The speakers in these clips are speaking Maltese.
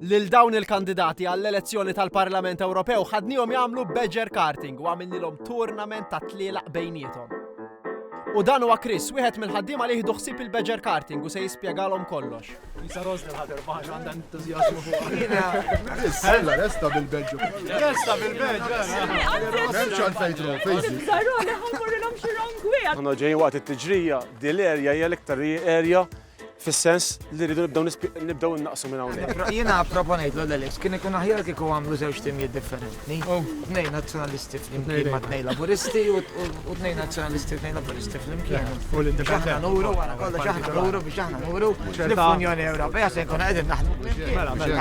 Lil dawn il-kandidati għall-elezzjoni tal-Parlament Ewropew ħadnihom jagħmlu badger karting u għamilnilhom tournament ta' tlielaq bejniethom. U dan huwa Chris, wieħed mill-ħaddiema li jieħdu ħsieb il-badger karting u se jispjegalhom kollox. Isa Rosni ħader baħx għandha entużjażmu fuq. Sella resta bil-badger. Resta bil-badger. Memx għal fejtru, fejzi. Zarone ħammurrilhom xi wrong way. Għandna ġejjin waqt it-tiġrija, dil-erja hija l-iktar erja fis-sens li rridu nibdew nibdew innaqsu minn hawnhekk. Jiena proponejt l Alex kien ikun aħjar kieku għamlu żewġ timijiet differenti. Oh. Tnejn nazzjonalisti flimkien ma' tnejn laburisti u tnejn nazzjonalisti tnejn laburisti flimkien. U l-indifferenti. Nuru wara kollox aħna nuru biex aħna nuru l-Unjoni Ewropea se jkun qegħdin naħdmu. Mela, mela.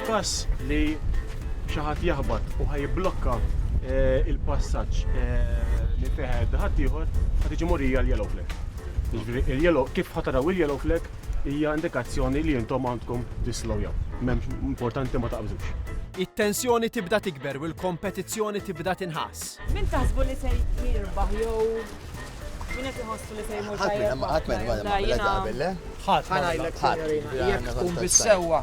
F'każ li xi ħadd jaħbat u ħa jibblokka il-passaġġ minn fejn ħajgħaddi ħaddieħor, ħa tiġi morija l-yellow flag. Jiġifieri il-yellow kif ħa taraw il-yellow flag hija indikazzjoni li intom għandkom tislowjaw. M'hemmx importanti ma taqbżux. It-tensjoni tibda tikber u l-kompetizzjoni tibda tinħass. Min taħsbu li se jirbaħ jew min qed iħossu li se jmur tajjeb? Ħadd ma jagħmel hekk qabel, le? Ħadd. Ħa ngħidlek, sinjorina, jekk tkun bis-sewwa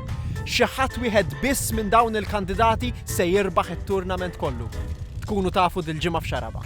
Xi ħadd wieħed biss minn dawn il-kandidati se jirbaħ it-tournament kollu. Tkunu tafu dil-ġimgħa f'Xaraba.